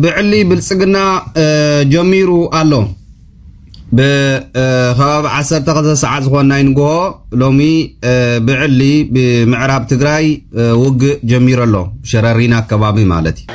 ብዕሊ ብልጽግና ጀሚሩ ኣሎ ብከባቢ ዓሰርተ ክልተ ሰዓት ዝኾን ናይ ንግሆ ሎሚ ብዕሊ ብምዕራብ ትግራይ ውግእ ጀሚሩ ኣሎ ሸረሪና ከባቢ ማለት እዩ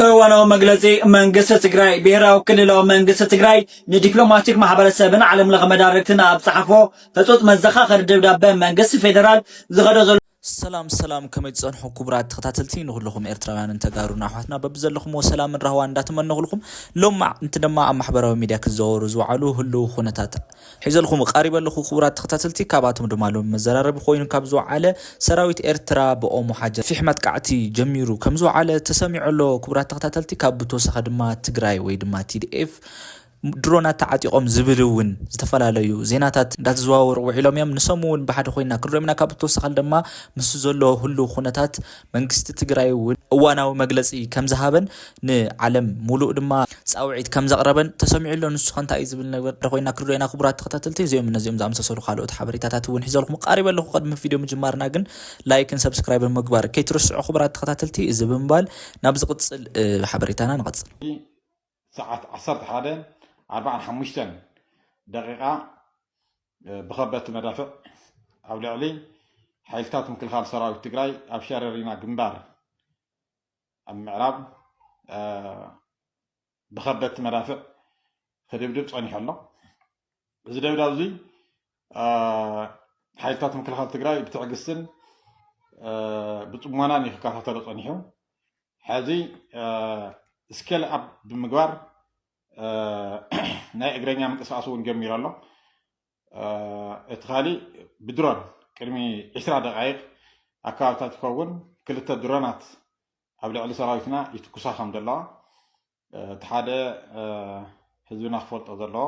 እዋናዊ መግለጺ መንግስቲ ትግራይ ብሔራዊ ክልላዊ መንግስቲ ትግራይ ንዲፕሎማቲክ ማሕበረሰብን ዓለም ለኸ መዳርግትን ኣብ ዝፀሓፎ ህፁፅ መዘኻኸሪ ደብዳበ መንግስቲ ፌደራል ዝኸዶ ዘሎ ሰላም ሰላም ከመይ ትጸንሑ ክቡራት ተኸታተልቲ ንኹልኹም ኤርትራውያንን ተጋሩን ኣሕዋትና በብዘለኹምዎ ሰላምን ራህዋን እንዳተመነኹልኩም ሎማዕ እንት ድማ ኣብ ማሕበራዊ ሚድያ ክዘወሩ ዝወዓሉ ህልው ኩነታት ሒዘልኹም ቃሪበ ኣለኹ ክቡራት ተኸታተልቲ ካብኣቶም ድማ ሎሚ መዘራረቢ ኮይኑ ካብ ዝወዓለ ሰራዊት ኤርትራ ብኦሞ ሓጀር ፊሕ መጥቃዕቲ ጀሚሩ ከም ዝወዓለ ተሰሚዑ ኣሎ ክቡራት ተኸታተልቲ ካብ ብተወሳኺ ድማ ትግራይ ወይ ድማ ቲዲኤፍ ድሮናት ተዓጢቖም ዝብል እውን ዝተፈላለዩ ዜናታት እንዳተዘዋወሩ ውዒሎም እዮም ንሶም እውን ብሓደ ኮይና ክንሪኦም ኢና ካብ ተወሳኻል ድማ ምስ ዘሎ ህሉ ኩነታት መንግስቲ ትግራይ እውን እዋናዊ መግለፂ ከም ዝሃበን ንዓለም ሙሉእ ድማ ፃውዒት ከም ዘቕረበን ተሰሚዑ ኣሎ ንሱ ከ እንታይ እዩ ዝብል ነገር ኮይና ክንሪኦ ኢና ክቡራት ተኸታተልቲ እዚኦም እነዚኦም ዝኣመሳሰሉ ካልኦት ሓበሬታታት እውን ሒዘልኩም ቃሪበ ኣለኹ ቅድሚ ቪድዮ ምጅማርና ግን ላይክን ሰብስክራይብን ምግባር ከይትርስዑ ክቡራት ተኸታተልቲ እዚ ብምባል ናብ ዝቕፅል ሓበሬታና ንቐፅል ሰዓት ዓሰርተ ሓደ ኣርብዓን ሓሙሽተን ደቒቓ ብኸበድቲ መዳፍዕ ኣብ ልዕሊ ሓይልታት ምክልኻል ሰራዊት ትግራይ ኣብ ሸረሪና ግንባር ኣብ ምዕራብ ብኸበድቲ መዳፍዕ ክድብድብ ፀኒሑ ኣሎ እዚ ደብዳብ እዙይ ሓይልታት ምክልኻል ትግራይ ብትዕግስትን ብፅሞናን እዩ ክከታተሎ ፀኒሑ ሕዚ ስኬል ኣብ ብምግባር ናይ እግረኛ ምንቅስቃስ እውን ጀሚሩ ኣሎ እቲ ካሊእ ብድሮን ቅድሚ ዕስራ ደቃይቅ ኣካባቢታት ይኸውን ክልተ ድሮናት ኣብ ልዕሊ ሰራዊትና ይትኩሳ ከም ዘለዋ እቲ ሓደ ህዝብና ክፈልጦ ዘለዎ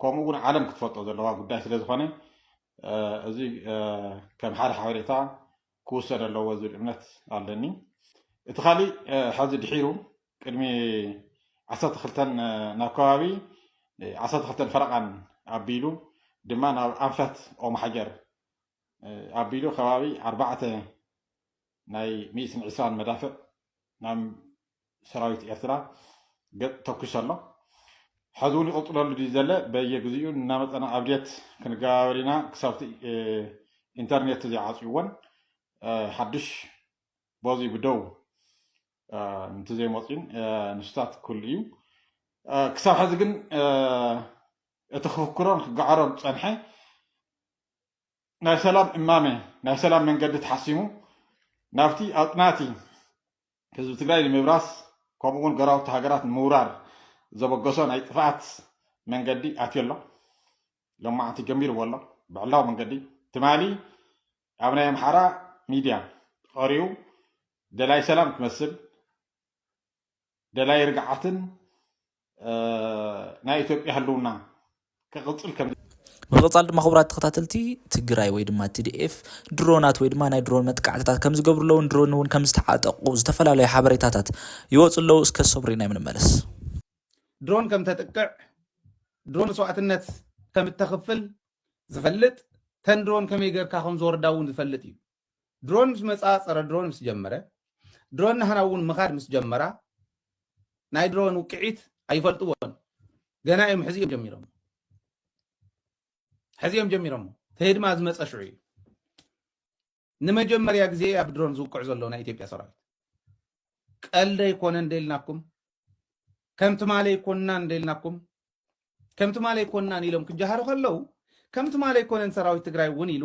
ከምኡ እውን ዓለም ክትፈልጦ ዘለዋ ጉዳይ ስለ ዝኾነ እዚ ከም ሓደ ሓበሬታ ክውሰድ ኣለዎ ዝብል እምነት ኣለኒ እቲ ካሊእ ሐዚ ድሒሩ ቅድሚ ዓሰርተ ክልተን ናብ ከባቢ ዓሰርተ ክልተን ፈረቓን ኣቢሉ ድማ ናብ ኣንፈት ኦም ሓጀር ኣቢሉ ከባቢ ኣርባዕተ ናይ ሚእትን ዕስራን መዳፍዕ ናብ ሰራዊት ኤርትራ ገጥ ተኩሱ ኣሎ ሐዚ ውን ይቅፅለሉ ድዩ ዘለ በየ ግዚኡ እናመፀና ኣብዴት ክንገባበር ኢና ክሳብቲ ኢንተርኔት ዘይዓፅዩወን ሐዱሽ ቦዙይ ብደው እንትዘይመፅዩን ንሱታት ክህሉ እዩ ክሳብ ሐዚ ግን እቲ ክፍክሮን ክገዓሮን ዝፀንሐ ናይ ሰላም እማመ፣ ናይ ሰላም መንገዲ ተሓሲሙ ናብቲ ኣጽናቲ ህዝቢ ትግራይ ንምብራስ ከምኡ እውን ጎረባብቲ ሃገራት ንምውራር ዘበገሶ ናይ ጥፍኣት መንገዲ ኣትዮ ኣሎ። ሎማዕንቲ ጀሚርዎ ኣሎ ብዕላዊ መንገዲ ትማሊ ኣብ ናይ ኣምሓራ ሚድያ ቐሪቡ ደላይ ሰላም ክመስል ደላይ ርግዓትን ናይ ኢትዮጵያ ህልውና ክቕፅል ከም ብምቕፃል ድማ ክቡራት ተኸታተልቲ ትግራይ ወይ ድማ ቲዲኤፍ ድሮናት ወይ ድማ ናይ ድሮን መጥቃዕትታት ከም ዝገብሩ ኣለውን ድሮን እውን ከም ዝተዓጠቑ ዝተፈላለዩ ሓበሬታታት ይወፁ ኣለዉ እስከ ሰብሪና የምንመለስ ድሮን ከም ተጥቅዕ ድሮን መስዋእትነት ከም እተኽፍል ዝፈልጥ ተን ድሮን ከመይ ጌርካ ከም ዝወርዳ እውን ዝፈልጥ እዩ ድሮን ምስ መፃ ፀረ ድሮን ምስ ጀመረ ድሮን ናህና እውን ምኻድ ምስ ጀመራ ናይ ድሮን ውቅዒት ኣይፈልጥዎን ገና እዮም ሕዚ እዮም ጀሚሮም ሕዚ እዮም ጀሚሮም ተሄድማ ዝመፀ ሽዑ እዩ ንመጀመርያ ግዜ ኣብ ድሮን ዝውቅዕ ዘሎ ናይ ኢትዮጵያ ሰራዊት ቀልደ ይኮነ እንደልናኩም ከምቲ ማለ ይኮንና እንደልናኩም ከምቲ ማለ ይኮንናን ኢሎም ክጀሃሩ ከለው ከምቲ ማለ ይኮነን ሰራዊት ትግራይ እውን ኢሉ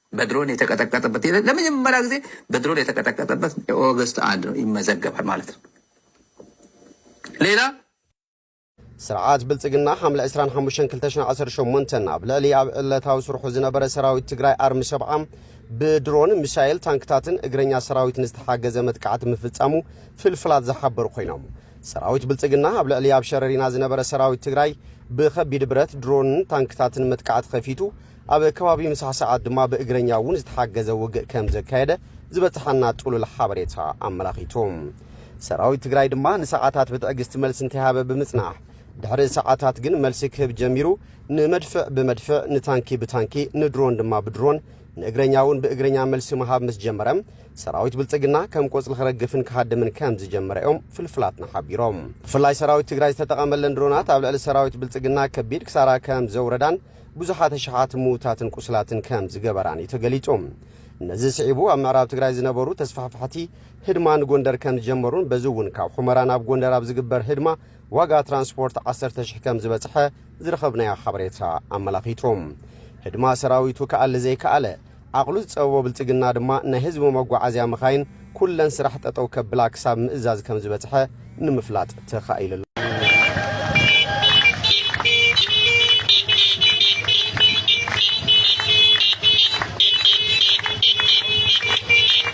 በድሮን የተቀጠቀጠበት ለመጀመሪያ ጊዜ በድሮን የተቀጠቀጠበት ኦገስት አንድ ነው ይመዘገባል ማለት ነው። ሌላ ስርዓት ብልጽግና ሓምለ 25/2018 ኣብ ልዕሊ ኣብ ዕለታዊ ስርሑ ዝነበረ ሰራዊት ትግራይ ኣርሚ ሰብዓ ብድሮን ሚሳኤል ታንክታትን እግረኛ ሰራዊትን ዝተሓገዘ መጥቃዕቲ ምፍጻሙ ፍልፍላት ዝሓበሩ ኮይኖም ሰራዊት ብልጽግና ኣብ ልዕሊ ኣብ ሸረሪና ዝነበረ ሰራዊት ትግራይ ብከቢድ ብረት ድሮንን ታንክታትን መጥቃዕቲ ከፊቱ ኣብ ከባቢ ምሳ ሰዓት ድማ ብእግረኛ እውን ዝተሓገዘ ውግእ ከም ዘካየደ ዝበጽሓና ጥሉል ሓበሬታ ኣመላኺቱ። ሰራዊት ትግራይ ድማ ንሰዓታት ብትዕግስቲ መልሲ እንተይሃበ ብምጽናሕ ድሕሪ ሰዓታት ግን መልሲ ክህብ ጀሚሩ ንመድፍዕ ብመድፍዕ ንታንኪ ብታንኪ ንድሮን ድማ ብድሮን ንእግረኛ እውን ብእግረኛ መልሲ ምሃብ ምስ ጀመረ ሰራዊት ብልጽግና ከም ቆጽሊ ክረግፍን ክሃድምን ከም ዝጀመረ እዮም ፍልፍላትና ሓቢሮም። ብፍላይ ሰራዊት ትግራይ ዝተጠቐመለን ድሮናት ኣብ ልዕሊ ሰራዊት ብልጽግና ከቢድ ክሳራ ከም ዘውረዳን ብዙሓት ኣሽሓት ምዉታትን ቁስላትን ከም ዝገበራን እዩ ተገሊጹ። ነዚ ስዒቡ ኣብ ምዕራብ ትግራይ ዝነበሩ ተስፋሕፋሕቲ ህድማ ንጎንደር ከም ዝጀመሩን በዚ እውን ካብ ሑመራ ናብ ጎንደር ኣብ ዝግበር ህድማ ዋጋ ትራንስፖርት ዓሰርተ ሽሕ ከም ዝበጽሐ ዝረኸብናዮ ሓበሬታ ኣመላኺቱ። ህድማ ሰራዊቱ ክኣሊ ዘይከኣለ ዓቕሉ ዝጸበቦ ብልጽግና ድማ ናይ ህዝቢ መጓዓዝያ መኻይን ኩለን ስራሕ ጠጠው ከብላ ክሳብ ምእዛዝ ከም ዝበጽሐ ንምፍላጥ ተኻኢሉ ኣሎ።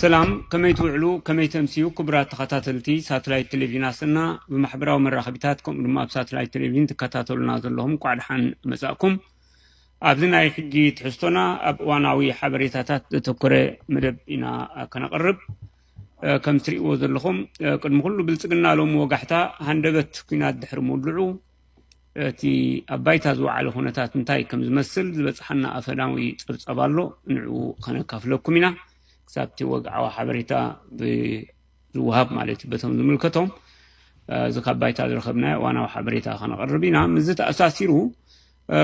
ሰላም ከመይ ትውዕሉ ከመይ ተምስዩ ክቡራት ተኸታተልቲ ሳተላይት ቴሌቭዥን ኣሰና ብማሕበራዊ መራኸቢታት ከምኡ ድማ ኣብ ሳተላይት ቴሌቭዥን ትከታተሉና ዘለኹም እንኳዕ ደሓን መፃእኩም ኣብዚ ናይ ሕጂ ትሕዝቶና ኣብ እዋናዊ ሓበሬታታት ዘተኮረ መደብ ኢና ከነቕርብ። ከም ትርእይዎ ዘለኹም ቅድሚ ኩሉ ብልጽግና ሎሚ ወጋሕታ ሃንደበት ኩናት ድሕሪ ምውልዑ እቲ ኣብ ባይታ ዝወዓለ ኩነታት እንታይ ከም ዝመስል ዝበጽሓና ኣፈናዊ ጸብጻብ ኣሎ ንዕኡ ከነካፍለኩም ኢና ክሳብ እቲ ወግዓዊ ሓበሬታ ብዝወሃብ ማለት እዩ በቶም ዝምልከቶም እዚ ካብ ባይታ ዝረኸብናዮ ዋናዊ ሓበሬታ ከነቕርብ ኢና ምስዚ ተኣሳሲሩ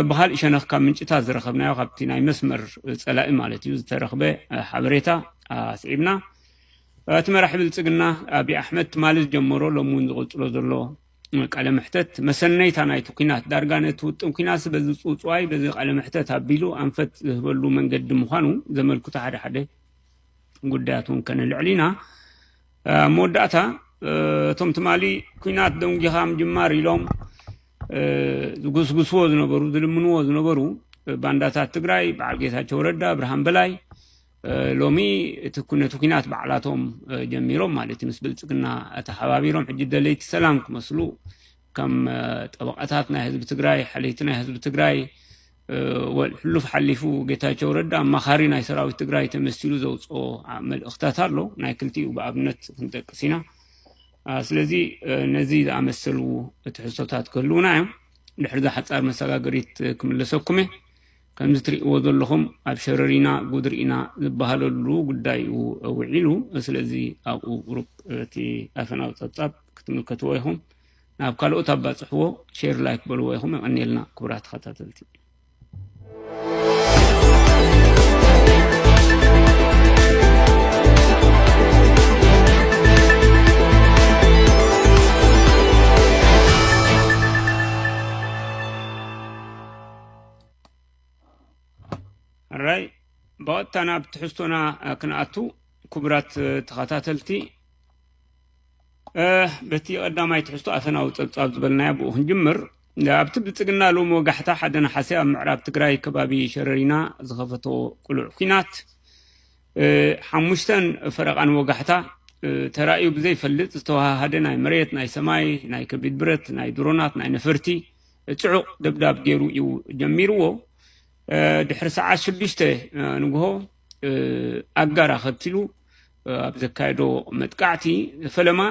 ብኻሊእ ሸነኽ ካብ ምንጭታት ዝረኸብናዮ ካብቲ ናይ መስመር ፀላኢ ማለት እዩ ዝተረኽበ ሓበሬታ ኣስዒብና እቲ መራሒ ብልፅግና ኣብዪ ኣሕመድ ትማሊ ዝጀመሮ ሎሚ እውን ዝቕፅሎ ዘሎ ቃለ መሕተት መሰነይታ ናይቲ ኩናት ዳርጋ ነቲ ውጥን ኩናት በዚ ፅውፅዋይ በዚ ቃለ መሕተት ኣቢሉ ኣንፈት ዝህበሉ መንገዲ ምዃኑ ዘመልክቱ ሓደ ሓደ ጉዳያት እውን ከነልዕል ኢና ኣብ መወዳእታ እቶም ትማሊ ኩናት ደንጊኻ ምጅማር ኢሎም ዝጉስጉስዎ ዝነበሩ ዝልምንዎ ዝነበሩ ባንዳታት ትግራይ በዓል ጌታቸው ረዳ ብርሃን በላይ ሎሚ እቲ ነቲ ኩናት ባዕላቶም ጀሚሮም ማለት እዩ ምስ ብልፅግና ተሓባቢሮም ሕጂ ደለይቲ ሰላም ክመስሉ ከም ጠበቃታት ናይ ህዝቢ ትግራይ ሓለይቲ ናይ ህዝቢ ትግራይ ሕሉፍ ሓሊፉ ጌታቸው ረዳ ኣማኻሪ ናይ ሰራዊት ትግራይ ተመሲሉ ዘውፅኦ መልእኽታት ኣሎ ናይ ክልቲኡ ብኣብነት ክንጠቅስ ኢና ስለዚ ነዚ ዝኣመሰሉ ትሕዝቶታት ክህልውና እዮም ድሕሪ ዝሓፃር መሰጋገሪት ክምለሰኩም እየ ከምዚ ትሪእዎ ዘለኹም ኣብ ሸረሪና ጉድሪኢና ዝበሃለሉ ጉዳይ እዩ ውዒሉ ስለዚ ኣብኡ ቁሩብ እቲ ኣፈናዊ ፀብፃብ ክትምልከትዎ ኢኹም ናብ ካልኦት ኣባጽሕዎ ሼር ላይክ በልዎ ኢኹም የቐንየልና ክቡራት ተኸታተልቲ ራይ ብቐጥታ ናብ ትሕዝቶና ክንኣቱ ክቡራት ተኸታተልቲ በቲ ቀዳማይ ትሕዝቶ ኣፈናዊ ጸብጻብ ዝበልናያ ብኡ ክንጅምር ኣብቲ ብልፅግና ሎሚ ወጋሕታ ሓደ ነሓሰ ኣብ ምዕራብ ትግራይ ከባቢ ሸረሪና ዝኸፈቶ ቅሉዕ ኩናት ሓሙሽተን ፈረቓን ወጋሕታ ተራእዩ ብዘይፈልጥ ዝተዋሃሃደ ናይ መሬት ናይ ሰማይ ናይ ከቢድ ብረት ናይ ድሮናት ናይ ነፈርቲ ፅዑቕ ደብዳብ ገይሩ እዩ ጀሚርዎ ድሕሪ ሰዓት ሽዱሽተ ንግሆ ኣጋር ኣኸቲሉ ኣብ ዘካየዶ መጥቃዕቲ ፈለማ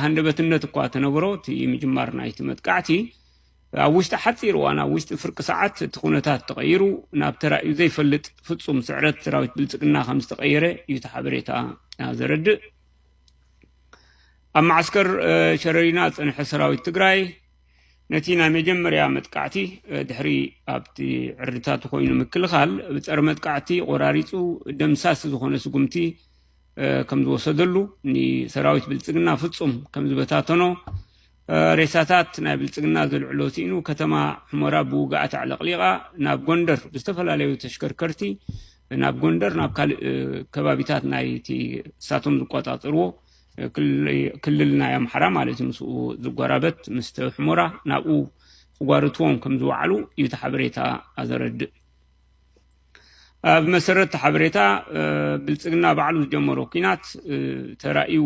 ሃንደበትነት እኳ ተነብሮ እቲ ምጅማር ናይቲ መጥቃዕቲ ኣብ ውሽጢ ሓፂር እዋን ኣብ ውሽጢ ፍርቂ ሰዓት እቲ ኩነታት ተቐይሩ ናብ ተራእዩ ዘይፈልጥ ፍፁም ስዕረት ሰራዊት ብልፅግና ከም ዝተቐየረ እዩ እቲ ሓበሬታ ዘረድእ ኣብ ማዓስከር ሸረሪና ዝፀንሐ ሰራዊት ትግራይ ነቲ ናይ መጀመርያ መጥቃዕቲ ድሕሪ ኣብቲ ዕርድታቱ ኮይኑ ምክልኻል ብፀረ መጥቃዕቲ ቆራሪፁ ደምሳሲ ዝኾነ ስጉምቲ ከም ዝወሰደሉ ንሰራዊት ብልፅግና ፍፁም ከም ዝበታተኖ ሬሳታት ናይ ብልፅግና ዘልዕሎ ስኢኑ ከተማ ሑመራ ብውግኣት ኣዕለቕሊቓ ናብ ጎንደር ብዝተፈላለዩ ተሽከርከርቲ ናብ ጎንደር ናብ ካልእ ከባቢታት ናይቲ እሳቶም ዝቆፃፅርዎ ክልል ናይ ኣምሓራ ማለት እዩ ምስኡ ዝጎራበት ምስቲ ሕሞራ ናብኡ ክጓርትዎም ከም ዝወዓሉ እዩ እቲ ሓበሬታ ኣዘረድእ ኣብ መሰረት እቲ ሓበሬታ ብልፅግና ባዕሉ ዝጀመሮ ኩናት ተራእዩ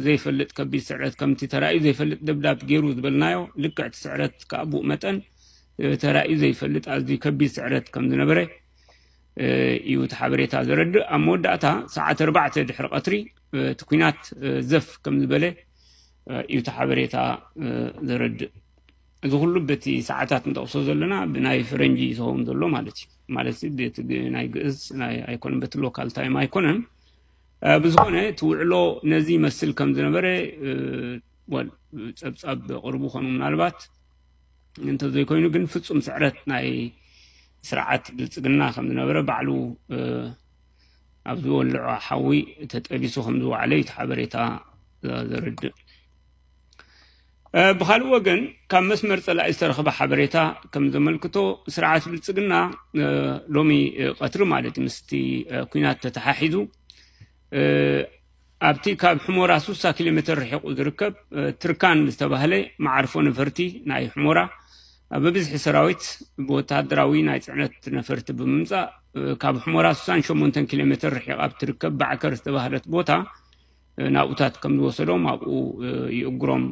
ዘይፈልጥ ከቢድ ስዕረት ከምቲ ተራእዩ ዘይፈልጥ ደብዳብ ገይሩ ዝበልናዮ ልክዕ እቲ ስዕረት ከዓ ብኡ መጠን ተራእዩ ዘይፈልጥ ኣዝዩ ከቢድ ስዕረት ከም ዝነበረ እዩ እቲ ሓበሬታ ዘረድእ ኣብ መወዳእታ ሰዓት ኣርባዕተ ድሕሪ ቀትሪ እቲ ኩናት ዘፍ ከም ዝበለ እዩ እቲ ሓበሬታ ዘረድእ እዚ ኩሉ በቲ ሰዓታት ንጠቕሶ ዘለና ብናይ ፈረንጂ ዝኸውን ዘሎ ማለት እዩ ማለት ቤት ናይ ግእዝ ናይ ኣይኮነን በቲ ሎካል ታይም ኣይኮነን ብዝኾነ እቲ ውዕሎ ነዚ ይመስል ከም ዝነበረ ፀብፃብ ቅርቡ ኮኑ ምናልባት እንተዘይኮይኑ ግን ፍፁም ስዕረት ናይ ስርዓት ብልፅግና ከም ዝነበረ ባዕሉ ኣብ ዝወልዖ ሓዊ ተጠቢሱ ከም ዝወዓለ እዩ እቲ ሓበሬታ ዘርድእ ብካልእ ወገን ካብ መስመር ፀላኢ ዝተረኽበ ሓበሬታ ከም ዘመልክቶ ስርዓት ብልፅግና ሎሚ ቀትሪ ማለት ምስቲ ኩናት ተተሓሒዙ ኣብቲ ካብ ሑሞራ ሱሳ ኪሎ ሜተር ርሒቑ ዝርከብ ትርካን ዝተባህለ መዓርፎ ነፈርቲ ናይ ሑሞራ ብብዝሒ ሰራዊት ብወተሃደራዊ ናይ ጽዕነት ነፈርቲ ብምምጻእ ካብ ሑሞራ ሱሳን ሸሞንተን ኪሎ ሜተር ርሒቓ ኣብ ትርከብ ባዕከር ዝተባህለት ቦታ ናብኡታት ከም ዝወሰዶም ኣብኡ ይእግሮም።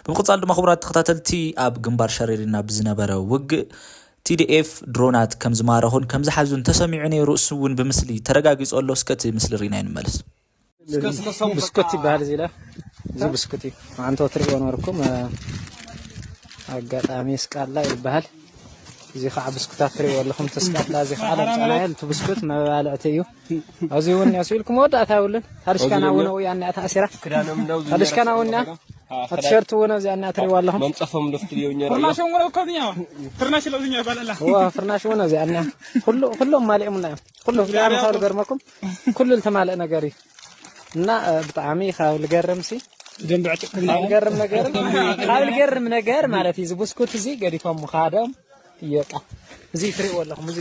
ብምቕጻል ድማ ክቡራት ተኸታተልቲ ኣብ ግንባር ሸሬሪና ብዝነበረ ውግእ ቲዲኤፍ ድሮናት ከም ዝማረኹን ከም ዝሓዙን ተሰሚዑ ነይሩ እሱ እውን ብምስሊ ተረጋጊፁ ኣሎ እስከ እቲ ምስሊ ሪእናዮ ንመለስ። ብስኩት ይበሃል እዚ ኢለ እዚ ብስኩት እዩ መዓንቶ ትሪእዎ ነበርኩም ኣጋጣሚ ስቃላ ይበሃል እዚ ከዓ ብስኩታት ትሪእዎ ኣለኹም እቲ ስቃላ እዚ ከዓ ለምፃናዮ እቲ ብስኩት መባልዕቲ እዩ ኣብዚ እውን ያሱ ኢልኩም መወዳእታ የብሉን ታድሽካና እውን ኣብኡ እኒኣ ተኣሲራ ታድሽካና እውን እኒኣ ኣብ ቲሸርት እውን ኣብዚኣ እኒኣ ትሪእዋ ኣለኹም መንፀፎም ልፍትልዮ ፍርናሽ እውን እኮ እዚኣ ፍርናሽ ለብዝኛ ይባል ኣላ እዋ ፍርናሽ እውን ኣብዚኣ እኒኣ ኩሉ ኩሎም ማሊኦምና እዮም ኩሉ ብጣዕሚ ካብ ልገርመኩም ኩሉ ዝተማልእ ነገር እዩ እና ብጣዕሚ ካብ ልገርም ሲ ልገርም ነገር ካብ ልገርም ነገር ማለት እዩ እዚ ብስኩት እዚ ገዲፎም ምኻዶም እየቃ እዚ ትሪእዎ ኣለኹም እዚ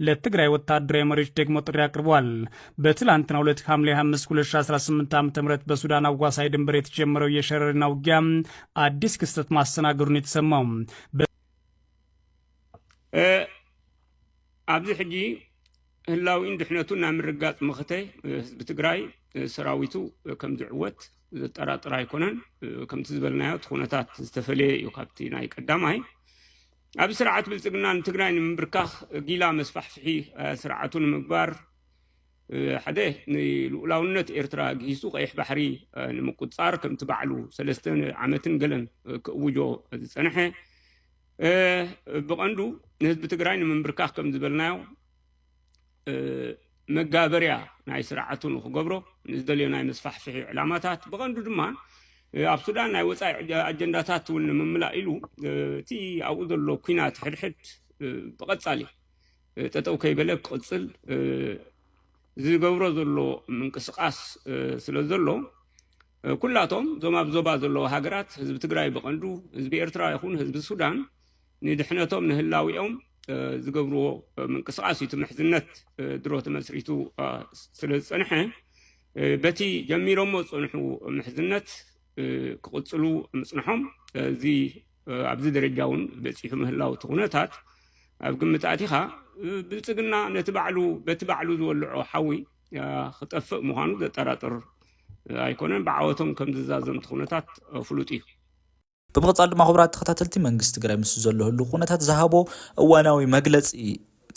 ለትግራይ ወታደራዊ መሪዎች ደግሞ ጥሪ አቅርበዋል። በትላንትናው ዕለት ሐምሌ 25 2018 ዓ ም በሱዳን አዋሳኝ ድንበር የተጀመረው የሸረሪና ውጊያ አዲስ ክስተት ማስተናገዱን የተሰማው ኣብዚ ሕጂ ህላዊን ድሕነቱ ናብ ምርጋፅ መኸተ ህዝቢ ትግራይ ሰራዊቱ ከም ዝዕወት ዘጠራጥር ኣይኮነን። ከምቲ ዝበልናዮ እቲ ኩነታት ዝተፈለየ እዩ ካብቲ ናይ ቀዳማይ ኣብዚ ስርዓት ብልፅግና ንትግራይ ንምብርካኽ ጊላ መስፋሕፍሒ ስርዓቱ ንምግባር ሓደ ንልኡላውነት ኤርትራ ግሂሱ ቀይሕ ባሕሪ ንምቁፃር ከምቲ ባዕሉ ሰለስተ ዓመትን ገለን ክእውጆ ዝፀንሐ ብቐንዱ ንህዝቢ ትግራይ ንምንብርካኽ ከም ዝበልናዮ መጋበርያ ናይ ስርዓቱ ንክገብሮ ንዝደልዮ ናይ መስፋሕፍሒ ዕላማታት ብቐንዱ ድማ ኣብ ሱዳን ናይ ወፃኢ ኣጀንዳታት እውን ንምምላእ ኢሉ እቲ ኣብኡ ዘሎ ኩናት ሕድሕድ ብቐፃሊ ጠጠው ከይበለ ክቕፅል ዝገብሮ ዘሎ ምንቅስቃስ ስለ ዘሎ ኩላቶም እዞም ኣብ ዞባ ዘለዉ ሃገራት ህዝቢ ትግራይ ብቐንዱ ህዝቢ ኤርትራ ይኹን ህዝቢ ሱዳን ንድሕነቶም ንህላዊኦም ዝገብርዎ ምንቅስቃስ እዩ እቲ ምሕዝነት ድሮ ተመስሪቱ ስለ ዝፀንሐ በቲ ጀሚሮሞ ዝፀንሑ ምሕዝነት ክቕፅሉ ምፅንሖም እዚ ኣብዚ ደረጃ እውን በፂሑ ምህላው እቲ ኩነታት ኣብ ግምት ኣቲኻ ብልፅግና ነቲ ባዕሉ በቲ ባዕሉ ዝወልዖ ሓዊ ክጠፍእ ምዃኑ ዘጠራጥር ኣይኮነን ብዓወቶም ከም ዝዛዘምቲ ኩነታት ፍሉጥ እዩ ብምቕፃል ድማ ክቡራት ተኸታተልቲ መንግስቲ ትግራይ ምስ ዘሎ ህሉ ኩነታት ዝሃቦ እዋናዊ መግለፂ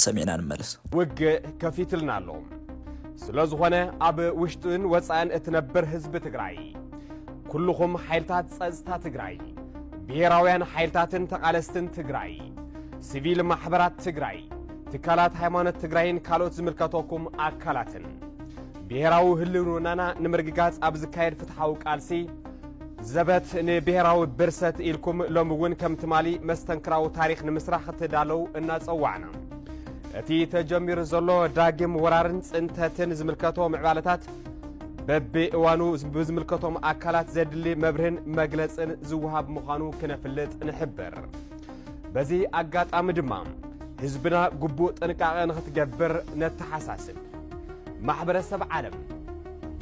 ሰሚዕና ንመለስ። ውግእ ከፊትልና ኣሎ። ስለ ዝኾነ ኣብ ውሽጥን ወፃእን እትነብር ህዝቢ ትግራይ ኩልኹም ሓይልታት ፀፅታ ትግራይ፣ ብሄራውያን ሓይልታትን ተቓለስትን ትግራይ፣ ሲቪል ማሕበራት ትግራይ፣ ትካላት ሃይማኖት ትግራይን ካልኦት ዝምልከተኩም ኣካላትን ብሄራዊ ህልውናና ንምርግጋፅ ኣብ ዝካየድ ፍትሓዊ ቃልሲ ዘበት ንብሄራዊ ብርሰት ኢልኩም ሎሚ እውን ከም ትማሊ መስተንክራዊ ታሪኽ ንምስራሕ ክትዳለው እናጸዋዕና እቲ ተጀሚሩ ዘሎ ዳግም ወራርን ጽንተትን ዝምልከቶ ምዕባለታት በብእዋኑ ብዝምልከቶም ኣካላት ዘድሊ መብርህን መግለጽን ዝወሃብ ምዃኑ ክነፍልጥ ንሕብር። በዚ ኣጋጣሚ ድማ ህዝብና ግቡእ ጥንቃቐ ንኽትገብር ነተሓሳስብ። ማሕበረሰብ ዓለም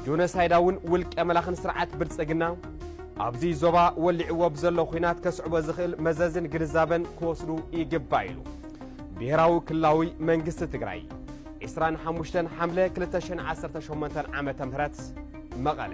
ጆኖሳይዳውን ውልቀ መላኽን ስርዓት ብልጽግና ኣብዚ ዞባ ወሊዕዎ ብዘሎ ኹናት ከስዕቦ ዝኽእል መዘዝን ግንዛበን ክወስዱ ይግባእ ኢሉ ብሄራዊ ክልላዊ መንግስቲ ትግራይ 25 ሓምለ 2018 ዓ ም መቐለ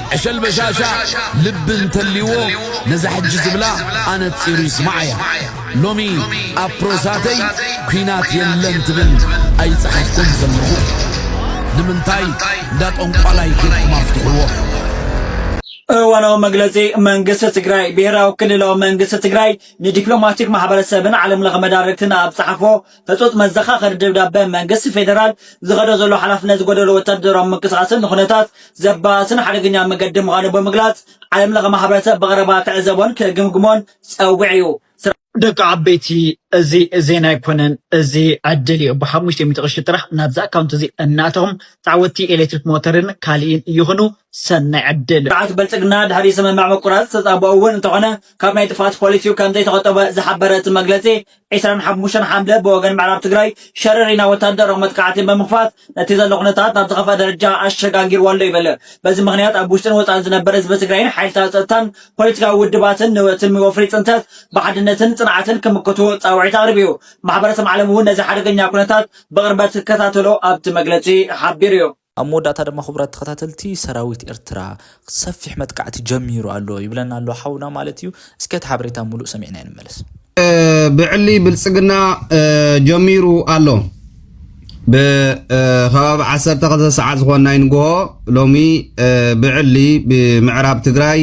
ዕሸል በሻሻ ልቢ እንተልይዎ ነዛ ሕጂ ዝብላ ኣነጺሩ ይስማዓያ ሎሚ ኣብ ፕሮሳተይ ኩናት የለን ትብል ኣይጸሓፍኩን ዘለኹ ንምንታይ እንዳ ጠንቋላይ ኬድኩም ኣፍትሕዎ። እዋናዊ መግለጺ መንግስቲ ትግራይ ብሄራዊ ክልላዊ መንግስቲ ትግራይ ንዲፕሎማቲክ ማሕበረሰብን ዓለምለኸ መዳርግትን ኣብ ጸሓፎ ህጹጽ መዘኻኸሪ ደብዳበ፣ መንግስቲ ፌደራል ዝኸዶ ዘሎ ሓላፍነት ዝጎደሎ ወታደራዊ ምንቅስቓስን ንኩነታት ዘበኣስን ሓደገኛ መገዲ ምዃኑ ብምግላጽ፣ ዓለም ለኸ ማሕበረሰብ ብቐረባ ክዕዘቦን ክግምግሞን ጸዊዑ'ዩ። ደቂ ዓበይቲ እዚ ዜና ኣይኮነን እዚ ዕድል እዩ ብሓሙሽተ ሚእቲ ቅርሺ ጥራሕ ናብዚ ኣካውንት እዚ እናእተኹም ተዓወትቲ ኤሌክትሪክ ሞተርን ካሊእን ይኹኑ ሰናይ ዕድል። ስርዓት ብልፅግና ድሕሪ ስምምዕ ምቁራፅ ተፃብኦ እውን እንተኾነ ካብ ናይ ጥፍኣት ፖሊሲኡ ከምዘይተቖጠበ ዝሓበረ እቲ መግለፂ ዕስራን ሓሙሽተን ሓምለ ብወገን ምዕራብ ትግራይ ሸረሪና ወታደራዊ መጥቃዕቲ ብምኽፋት ነቲ ዘሎ ኩነታት ናብ ዝኸፍኣ ደረጃ ኣሸጋጊርዎ'ሎ ይብል። በዚ ምኽንያት ኣብ ውሽጥን ወጻእን ዝነበር ህዝቢ ትግራይን ሓይልታት ጸጥታን ፖለቲካዊ ውድባትን ንቲ ወፍሪ ጽንተት ብሓድነትን ጽንዓትን ክምክቱ ጻውዒት ኣቕሪቡ'ዩ። ማሕበረሰብ ዓለም'ውን ነዚ ሓደገኛ ኩነታት ብቕርበት ክከታተሎ ኣብቲ መግለጺ ሓቢሩ'ዩ። ኣብ መወዳእታ ድማ ክቡራት ተኸታተልቲ ሰራዊት ኤርትራ ሰፊሕ መጥቃዕቲ ጀሚሩ ኣሎ ይብለና ኣሎ ሓውና ማለት እዩ። እስከ እቲ ሓበሬታ ሙሉእ ሰሚዕና ንመለስ። ብዕሊ ብልጽግና ጀሚሩ ኣሎ። ብከባቢ ዓሰርተ ክልተ ሰዓት ዝኾን ናይ ንግሆ ሎሚ ብዕሊ ብምዕራብ ትግራይ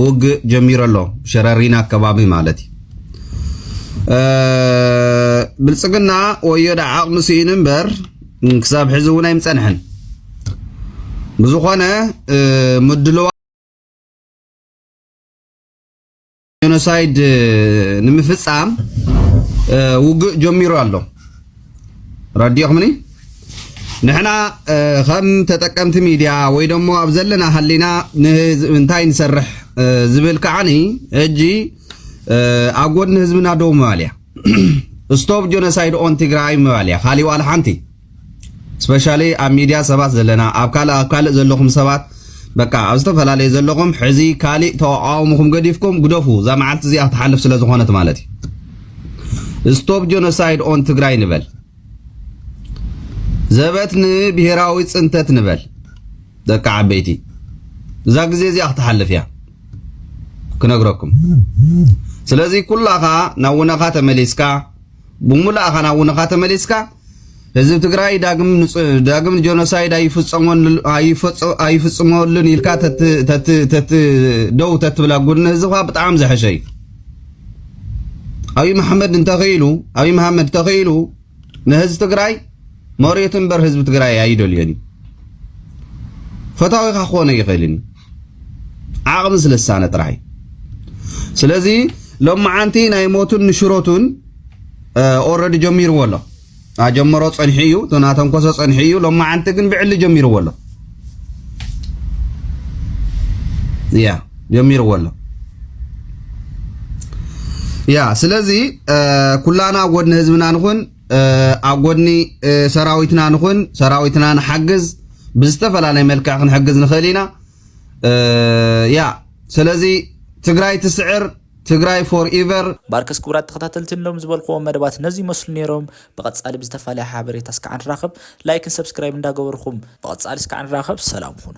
ውግእ ጀሚሩ ኣሎ ሸረሪና ከባቢ ማለት እዩ ብልጽግና ወዮ ዳ ዓቕሚ ስኢኑ እምበር ክሳብ ሕዚ እውን ኣይምፀንሐን ብዝኾነ ምድለዋ ጀኖሳይድ ንምፍፃም ውግእ ጀሚሩ ኣሎ ረዲኦኽምኒ ንሕና ከም ተጠቀምቲ ሚድያ ወይ ደሞ ኣብ ዘለና ሃሊና እንታይ ንሰርሕ ዝብል ከዓኒ ሕጂ ኣብ ጎድኒ ህዝብና ደው ምባል እያ ስቶፕ ጆኖሳይድ ኦን ትግራይ ምባል እያ ካሊእ ዋላ ሓንቲ ስፔሻሊ ኣብ ሚድያ ሰባት ዘለና ኣብ ካልእ ኣብ ካልእ ዘለኹም ሰባት በቃ ኣብ ዝተፈላለየ ዘለኹም ሕዚ ካሊእ ተቃውምኹም ገዲፍኩም ግደፉ እዛ መዓልቲ እዚኣ ክትሓልፍ ስለ ዝኾነት ማለት እዩ ስቶፕ ጆኖሳይድ ኦን ትግራይ ንበል ዘበት ንብሄራዊ ፅንተት ንበል ደቂ ዓበይቲ እዛ ግዜ እዚኣ ክትሓልፍ እያ ክነግረኩም ስለዚ ኩላኻ ናብ ውነኻ ተመሊስካ ብሙላእኻ ናብ ውነኻ ተመሊስካ ህዝብ ትግራይ ዳግም ዳግም ጆኖሳይድ ኣይፍጽመሉን ኢልካ ደው ተትብላ ጉድኒ ህዝብካ ብጣዕሚ ዘሐሸ እዩ ኣብይ መሓመድ እንተኽኢሉ ኣብይ መሓመድ ተኽኢሉ ንህዝቢ ትግራይ መሬቱ እምበር ህዝቢ ትግራይ ኣይደልዮን እዩ። ፈታዊኻ ክኾነ ይኽእልን እዩ ዓቕሚ ስለ ዝሳነ ጥራይ። ስለዚ ሎማዓንቲ ናይ ሞቱን ንሽሮቱን ኦረዲ ጀሚርዎ ኣሎ ኣጀመሮ ፀንሒ እዩ ተናተንኮሰ ፀንሒ እዩ ሎማዓንቲ ግን ብዕሊ ጀሚርዎ ኣሎ ያ ጀሚርዎ ኣሎ ያ ስለዚ ኩላና ኣብ ጎድኒ ህዝብና ንኹን ኣብ ጎድኒ ሰራዊትና ንኹን ሰራዊትና ንሓግዝ ብዝተፈላለየ መልክዕ ክንሕግዝ ንኽእል ኢና ያ ስለዚ ትግራይ ትስዕር ትግራይ ፎር ኢቨር ባርከስ ክቡራት ተኸታተልቲ እሎም ዝበልክዎም መደባት ነዚ ይመስሉ ነይሮም ብቀጻሊ ብዝተፋለየ ሓበሬታ እስካዕ ንራከብ ላይክን ሰብስክራይብ እንዳገበርኩም ብቀጻሊ እስካዕ ንራከብ ሰላም ኩኑ።